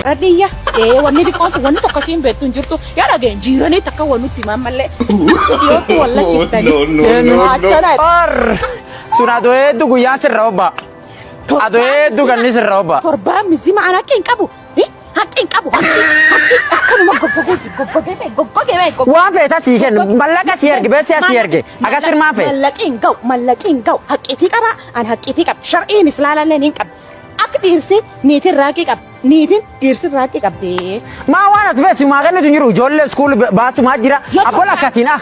Radiyya ee wanni xiqqoon wanni tokko siin beektu hin jirtu yaa dhageen jiiranii takka waan nutti himan malee dhiyootti wallatti ittanii achana Sun adoo hedduu guyyaan sirra obba. Adoo hedduu ganni sirra obba. torbaan mizima anakki hin qabu Haqqi hin qabu. Haqqi akkanuma goggogee fi goggogee fi goggogee fi goggogee. Waan feeta sii kenna. Mallaqa sii erge. Beeksisa sii erge. Akkas hirmaa fee. Mallaqi hin ga'u. Mallaqi hin ga'u. Haqqiitii qaba. An haqqiitii qaba. Shar'iin islaalalleen hin qabu. Akka dhiirsi niitiin raaqii qaba. Niitiin dhiirsi raaqii qabdee. Maa waan as feesi maa kennitu hin jiru. Ijoollee iskuul baasumaa jira. Yoo Abbola ta'u- akkatiin ah.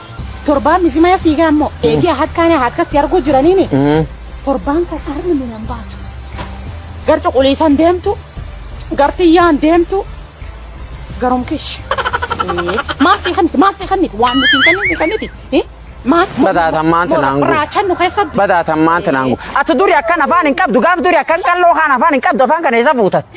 Torbaan misimaa sii gaammoo eegee harkaan harka si arguu jiraniini. Torbaan kan armi minan baatu. Gar cuquliisan deemtu, gar tiyyaan deemtu, garum kish. Maal sii kanniti? Maal sii kanniti? Waan nuti hin kanniti kanniti. Maal? Badaataan maanta naan guutu. Raachan nu keessa Badaataan maanta naan guutu. Ati duri akkan afaan hin qabdu gaaf duri akkan qalloo kaan afaan hin qabdu afaan kana isa fuutatti.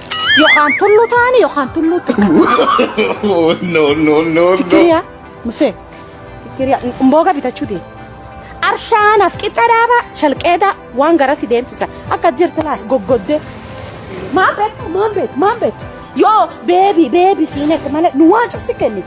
Yookaan tulluu taa'anii yookaan tulluu Oh, no, no, no, no. Kiriyaa musee kiriyaa mbooga bitachuu deema. Arshaanaaf qixxa dhaabaa shalqeedaa waan gara si deemsisa akka jirti laata goggoddee. Maan beektu maan beektu maan beektu yoo beebii beebii siinette malee nu waan cufsi kenni.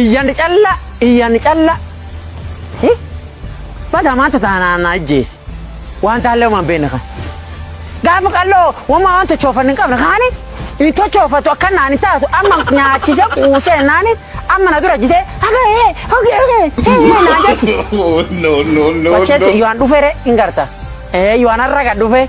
Iyyan calla iyyan calla hi bada maanta taana na ajjeese waan taallee waan beekne kan gaafa qalloo wama waan tochoofan hin qabne kaani hin tochoofatu akka naan hin taatu amma nyaachise quusee naani amma na dura jitee haga hee hogee hogee hee hee naa jetti. no, no, no, Wacheetti no. yohan dhufere hin garta. Eh yohan har'a gad dhufe.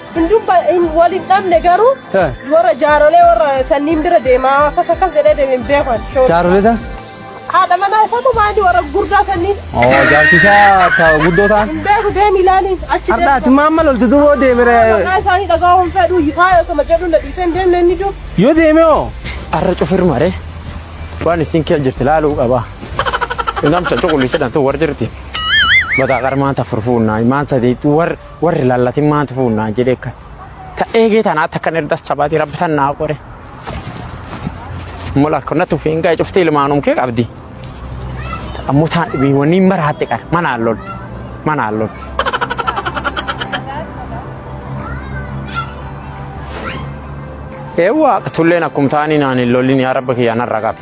Hunduu ba- hin- wal hin dhabne garuu Eh. warra jaarolee warra sanniin bira deemaa akkas akkas jedhee deeme hin beekan. Show. Jaaroleta. Haadha manaa isaatu maali warra gurdaa sanniin Oo jaartisaa ta guddoo ta'an. hin beeku deemi ilaaliin achi deemu. Har'aati maamma loltu duboo deemire. Maqaa isaanii dhagaa'uun fedhu yitaa osoma jedhu na dhiisee hin deemne inni jiru. Yoo deeme hoo. Arra cufir mare. Waan isin kee jirti laaluu qaba. Namta cuqulli sedhan tu war jirti. Bata qarmaan ta furfuun naa imaan sadeetu war Warri lallatin maa tufuu naa jedhee kan. Ta eegee tanaa takka nirdas cabaatii rabbi tan naa qore. Mola kun na tufii hingaa cufti ilmaanum kee qabdi. Ammoo taan dhibii wanni hin maraatte qara manaan lolti. Manaan lolti. Eewwa tulleen akkum taanii naan hin lolin yaa rabba kiyyaa narra qabi.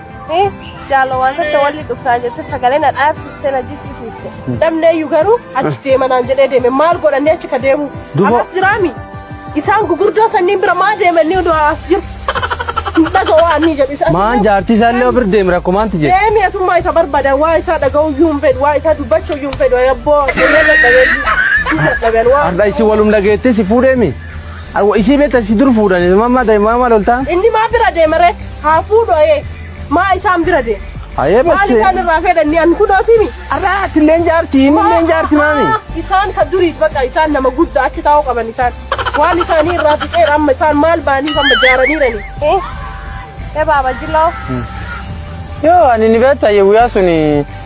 Ee, Jaala waan tokko walli dhufnaa jette sagalee na dhaabsiste na jissisiiste. Namneeyyu garuu achi deemanaan jedhee deeme maal godhannee achi ka deemu. Dubo- Akkas jiraami. Isaan gugurdoo sanniin bira maa deemanii oduu as jiru. Hin dhaga'u waan ni jedhu. Isa- Maan jaartii isaa illee bira deeme rakkoo maanti jedhe. Deemi asummaa isa barbaadan waa isaa dhaga'uu iyyuu hin fedhu waa isaa dubbachuu iyyuu hin fedhu yabboo. Inni dadhabee iyyuu. Hin dadhaben waa. Har'a isin walum dhageettee si fuudheemi. Awwa isii beekta si dur fuudhan ilmaan maa ta'e maa maal oltaa? Inni maa bira deema ree? Haa fuudhu ayee. Maa isaan bira deema? Ayee Maal bassee. isaan irraa fedhanni an kunootimi? Arraa ati illee hin jaarti inni illee hin jaarti maami. Isaan ka duriit baqa isaan nama gudda achi taa'uu qaban isaan. Waan isaanii irraa fixeera amma isaan maal baaniif amma jaaraniirani. Eh, eh baaba jiloo. Yoo ani ni beekta ayye guyyaa suni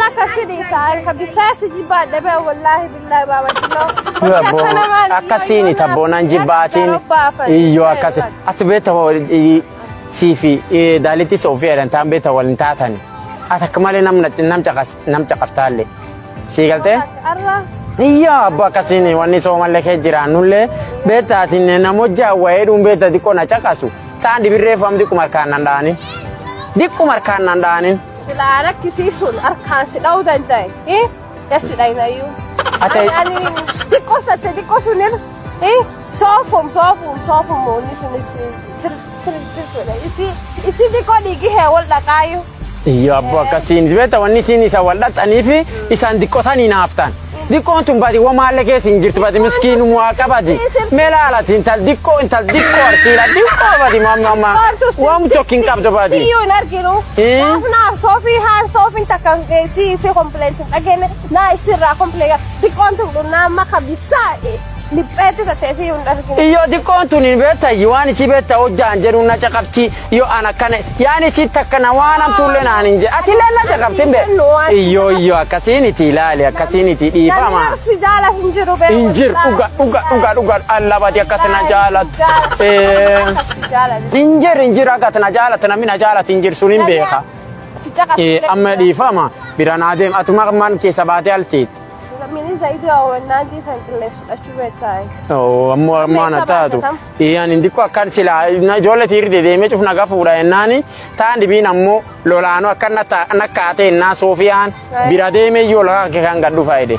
Laka sidi taa'e ka bisaa si jibbaa dhabee wallaahi billaahi baaba jilloo. Akkasiin tabboonaan jibbaatiin iyyoo akkasi. Ati beekta sii fi daalittis ofii jedhan taan beekta wal hin taatan. Ati akka malee nam caqaftaalle. Sii galtee? Iyyoo abbo akkasiin wanni soomallee kee jiraannullee beekta ati nama hojjaa wayee dhuun beekta xiqqoo na caqasu. Taan dibirree faam diqquma harkaan nan dhaanin. Diqquma harkaan nan dhaanin. Silaa rakkisii sun harkaan si dha'uu danda'e. Hii? Yassi dhayinayyuu. Ate- Ani- Ani xiqqoo satte xiqqoo sunir. Hii? Soofum soofum soofum moonni sunis sir sir sir godha. Isi isi xiqqoo dhiigi hee wal dhaqaayyuu. Iyyo abbo akkasiin beekta wanni isiin isa wal dhaxxanii fi isaan diqqotanii naaftaan. Diqqoon tun badi womaalle keessa hin jirti badi miskiinum waa qabadi. Mee laalati intal diqqoo intal diqqoo arsiila diqqoo badi mamma wom tokko hin qabdu badi. Siyyuu hin arginu. Ee? Naaf naaf soofii haan soofiin takka si si kompileenti hin dhageenne naa isirraa kompileega diqqoon tun dhunnaa maka bisaa. Dhipheetti tattee fi hin dhargine. Iyyo xiqqoon tun hin beettayyi waan isii beetta hojjaan jedhu na caqafti yoo an akkana yaan isii takka na waan hamtuullee naan hin jedhe ati illee na caqafti hin beektu. Iyyo iyyo akkasiin itti ilaali akkasiin itti Namni dhiifama. arsi jaala hin jiru beeku. Hin jiru dhuga dhuga dhuga dhuga allabati akkatti na jaalatu. Eh, Hin jiru hin jiru akkatti na jaalatu namni na jaalatu hin jiru sun hin beeka. Si caqafti. Eh, Amma dhiifama bira naa deema atuma man keessa baatee alteetti. Lammiileen zayitii hawwannaa geessan qilleensa fudhachuu beektaay. Ammoo ammoo ana taatu. Iyaan hin diqqoo akkan silaa ijoollee tiirri dedeemee cuf nagaa fuudha jennaani taan dhibiin ammoo lolaanoo akka nakkaatee innaa soofiyaan bira deemee yoo lakaa kan gad dhufa jedhe.